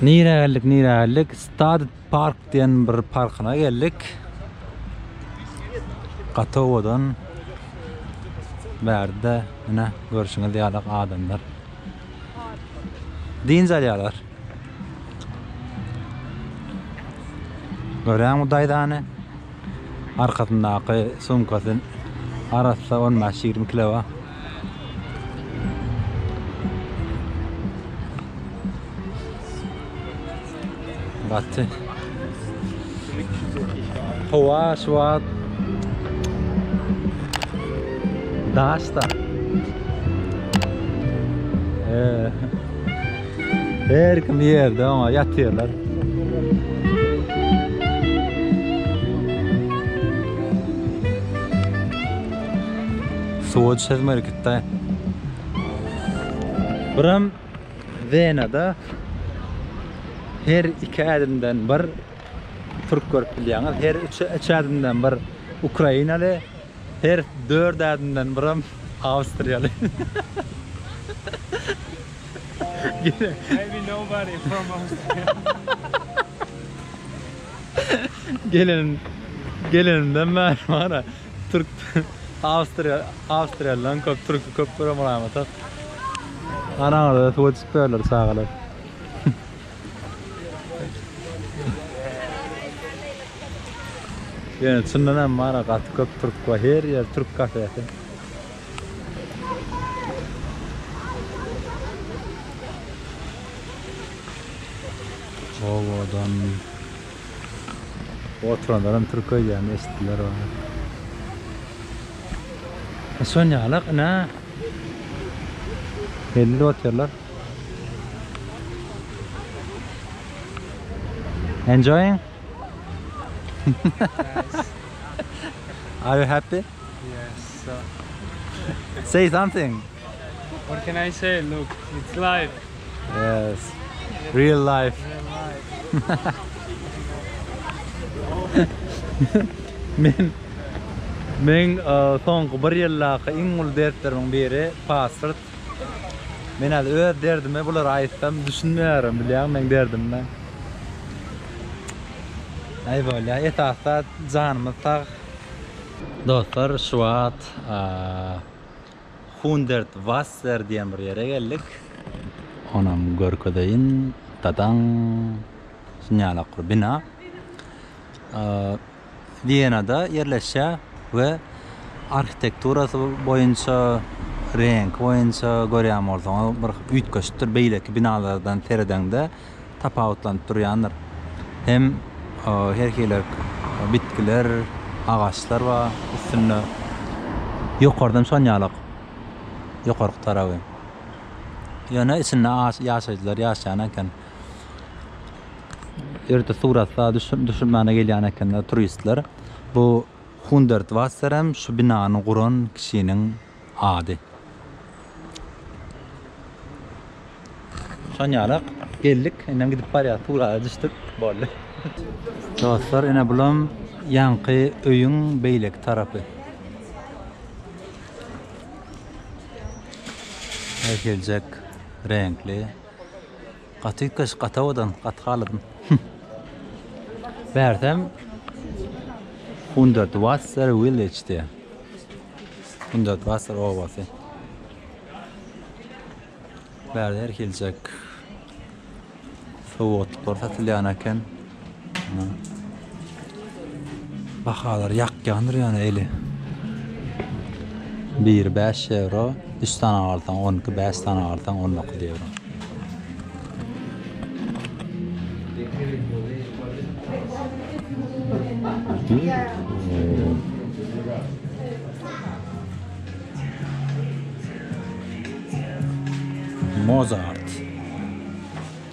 Nirä geldik, nirä geldik? Stad Park diýen bir parkyna geldik. Gaty owadan. Bärde ine görşüňiz ýalak adamlar. Dynç alýarlar. Görýän bu daýzany. Arkasyndaky sumkasy arassa 15-20 kilo. Gaty. Hava şu wagt daşda. Ee, her kim yerde ama yatıyorlar. Suwa çözmelikitta. Buram Wenada her iki ädimden bir türk görüp bilýäňiz, her üç, üç ädimden bir ukrainaly, her dört ädimden biram awstriýaly. Maybe nobody from Austria. Gelen, gelenimden bäri bara Türk Awstriýa Awstriýalydan köp türki köp görem raýmata. Anaňyza suw içip berler çagalar. Yani çyndan hem mara gaty köp türk var. Her yer türk kafesi. Ovadan Oturanlaram türk öýdýän eşitdiler ony. Şonýalak ine. Belli otyarlar. Enjoying? Are you happy? Say something. What can I say? Look, it's life. Yes. Real life. Men men soňky bir ýyldaky iň uly dertlerimiň biri pasport. Men hal öz derdimi bulara aýtsam düşünmeýärin bilýän meň derdimde. Aý bolýa esas zat janymyz sag Dostlar şu wagt Hundert Wasser diýen bir ýere geldik. Onam görkezeýin. Dadaň. Şunýalak bir bina. Wienada ýerleşýär we arhitekturasy boýunça, reňki boýunça görýän bolsaňyz bir üýtgeşikdir beýleki binalardan seredeňde. tapawutlanyp durýandyr. Hem her hili bitgiler, agaçlar bar üstünde. Ýokardan şon ýalak, ýokarky taraby. Ýöne içinde ýaşaýjylar ýaşaýan eken. Ýerde suratlar düşürmäne gelýän ekenler turistler. Bu Hundertwasser hem şu binany guran kişiniň Ady. Şonýalak geldik, indem gidip barýas, Tugrala düşdük, boldy. Dostlar, ine bulam ýaňky öýüň beýleki tarapy. Herhiljek reňkli. Gaty üýtgeşik gaty owadan gaty haladym. Bärsem Hundert Wasser Village diýýär. Hundert Wasser obasy. Bärde her hiljek sowgatlyklary satylýan eken. Bahalar ýakýandyr ýöne eli. Biri bäş ýewro, üç sany agarsaň on iki, bäş sany agarsaň on dokuz ýewro. Mozart.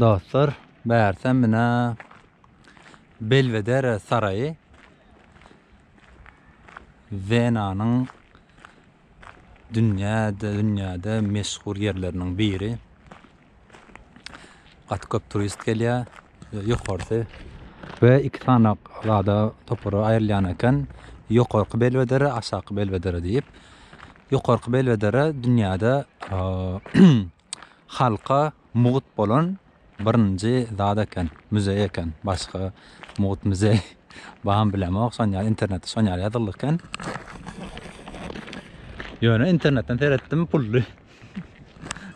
Dostlar, bärse menä Belvedere saraýy Wenanyň dünýäde dünýäde meşhur ýerleriniň biri. Gaty köp turist gelýär. Ýokarsy we iki sany zada topara aýrylýan eken. Ýokarky Belvedere, aşaky Belvedere diýip. Ýokarky Belwedere dünýäde halka mugt bolan birinji zat eken, muzeý eken. Başga mugt muzeý bamy bilemok, şon ýaly internetde şon ýaly ýazyldy eken. Ýöne internetden seretdim, pully.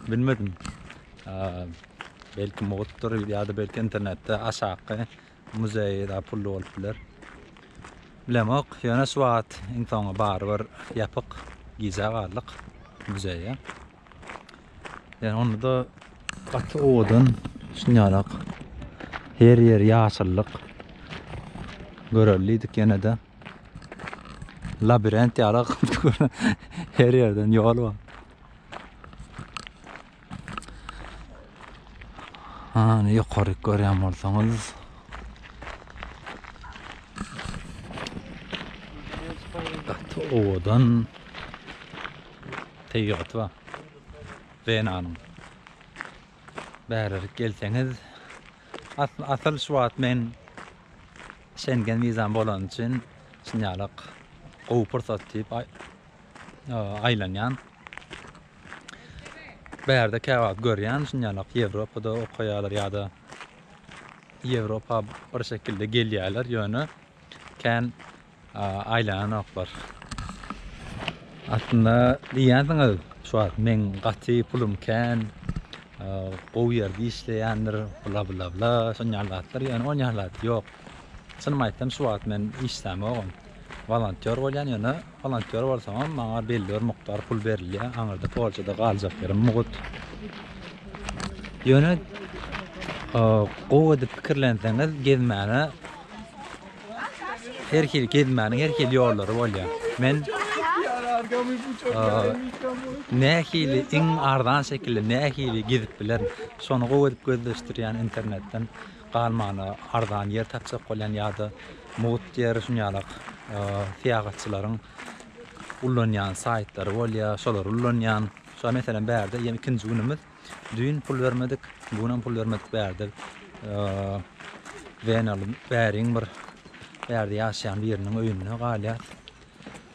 Bilmedim. Belki mugtdyr ýa-da belki internetde aşaky Muzeý da pully bolup biler. Bilemok, ýöne şu wagt iň soňy barybir ýapyk gijä galdyk muzeýe. Ýöne onda gaty owadan şunýalak her ýer ýaşyllyk. Görelidik ýene-de. Labirent ýalak her ýerden ýol bar. Ana ýokaryk görýän bolsaňyz. Gaty owadan. Tebigaty bar. Wenanyň. Bärerik gelseňiz. Asyl şu wagt men Şengen wizam bolany üçin şunýalak gowy pursat diýip aýlanýan. Bärde käwagt görýän şunýalak Ýewropada okaýarlar ýa-da Ýewropa bir şekilde gelýärler ýöne kän aýlananoklar. Aslynda diýýänsiňiz şu wagt meň gaty pulum kän, gowy ýerde işleýändir, bla bla bla şonýal zatlar ýöne onýal zat ýok. Çynymy aýtsam şu wagt men işlämogam. Wolontýor bolýan ýöne wolontýor bolsaňam maňa belli bir mukdar pul berilýär. Aňyrda Polşada galjak ýerim mugut. Ýöne gowy edip pikirlenseňiz gezmäne her hil gezmäniň her hil ýollary bolýar. Men nähili iň arzan şekilde nähili gezip bilerin. Şony gowy edip gözleşdirýän internetden. galmagyna arzan ýer tapjak bolýan ýa-da mugt ýer şun ýalak syýahatçylaryň ullanýan saýtlary bolýar şolary ullanýan şa meselem bärde ýene ikinji günümiz düýn pul bermedik bu gün hem pul bermedik bärde Wenaly bäriň bir bärde ýaşaýan biriniň öýünde galýar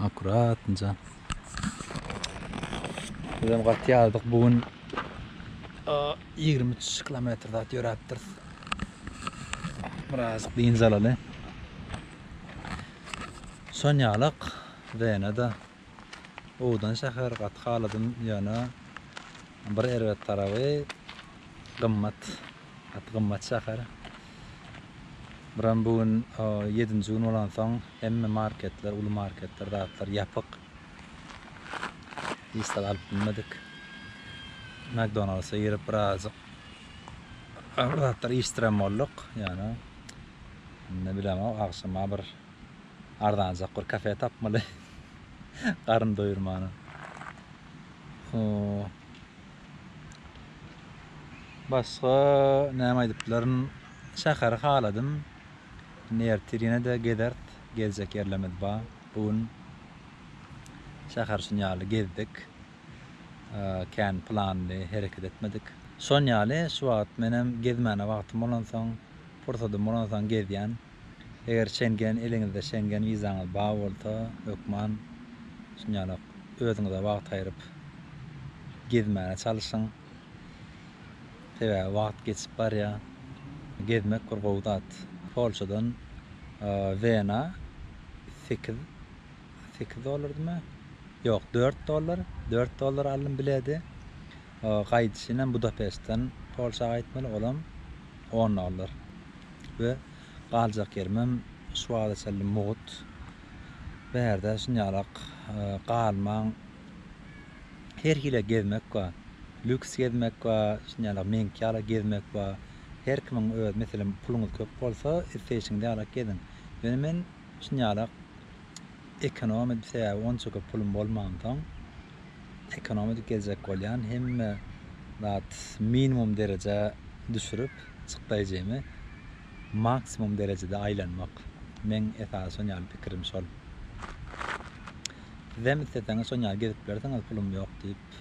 Akuratnja. Bizem gat ýazdyk bu gün. 23 kilometr zat ýöräpdiris. Biraz dynç alaly. Sonýalak Wenada owdan şäher gaty haladym ýöne bir erbet tarapy gymmat. Gaty gymmat şäher. Buram bu gün ýedinji gün bolansoň hemme marketler, uly marketler, zatlar ýapyk. Hiç zat alyp bilmedik. McDonald's-a girip birazajyk bir zatlar içdirem bolduk. Ýöne indi bilemok, agşama bir arzanjak bir kafe tapmaly. Garyn doýurmana. Basga näme aýdyplaryn şäheri haladym indi ertir ýenede gezert gezjek ýerlerimiz ba bu gün şäher şun ýaly gezdik kän planly hereket etmedik şon ýaly şu wagt menem gezmäne wagtym bolansoň pursadym bolansoň gezýän. Eger Şengen eliňizde Şengen wizaňyz bar bolsa hökman şunýalak özüňize wagt aýryp gezmäne çalyşyň. Sebäbi wagt geçip barýar. Gezmek bir gowy zat. Polşadan Wena sekiz sekiz dollardymy? Ýok, dört dollar, dört dollara aldym bileti. gaýdyşynam Budapeştden Polşa gaýtmaly, olam onda galar we galjak ýerimem şu wagta çenli mugt. Bärde şunýalak galmaň, her hili gezmek bar. Lýuks gezmek bar, şunýalak meňki ýaly gezmek bar. Her kimiň öz, meselem, puluňyz köp bolsa, isleýşiňiz ýalak geziň. Ýöne men şunýalak ekonom, sebäbi onça köp pulum bolmansoň, ekonomik geljek bolýan hemme zat minimum derejä düşürip çykdaýjymy maksimum derejede aýlanmak meň esasy şon ýaly pikirim şol sizem isleseňiz şon ýaly gezip bilersiňiz pulum ýok diýip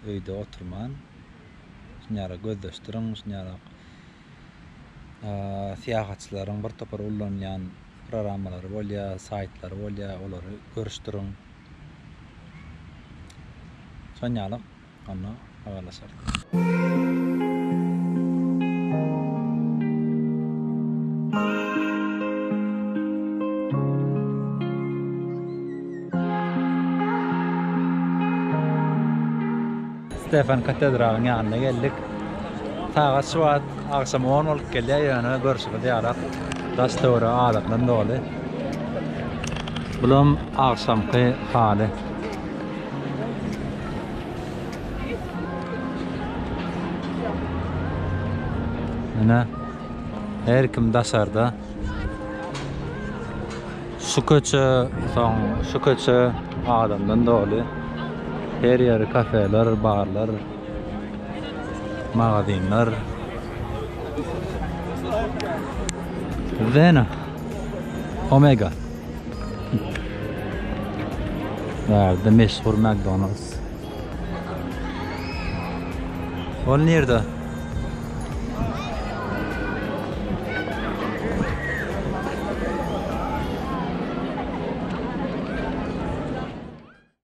öýde oturman şun ýala gözdeş duruň şun ýala Syýahatçylaryň bir topar ullanýan programmalary bolýar, saýtlary bolýar, olary görüşdiriň. Şon ýaly onda habarlaşarys. Stefan katedralyň ýanyna geldik. Sagat şu wagt agşam on bolup gelýär, ýöne görşüňiz ýalak daş-töwerek adam bilen doly. Bulam agşamky haly. Ine, her kim daşarda. Şu köçe, soň şu köçe adamdan doly. Her ýeri kafeler, barlar, magazynlar. Zena. Omega. Bärde meşhur McDonald's. Ol nirde?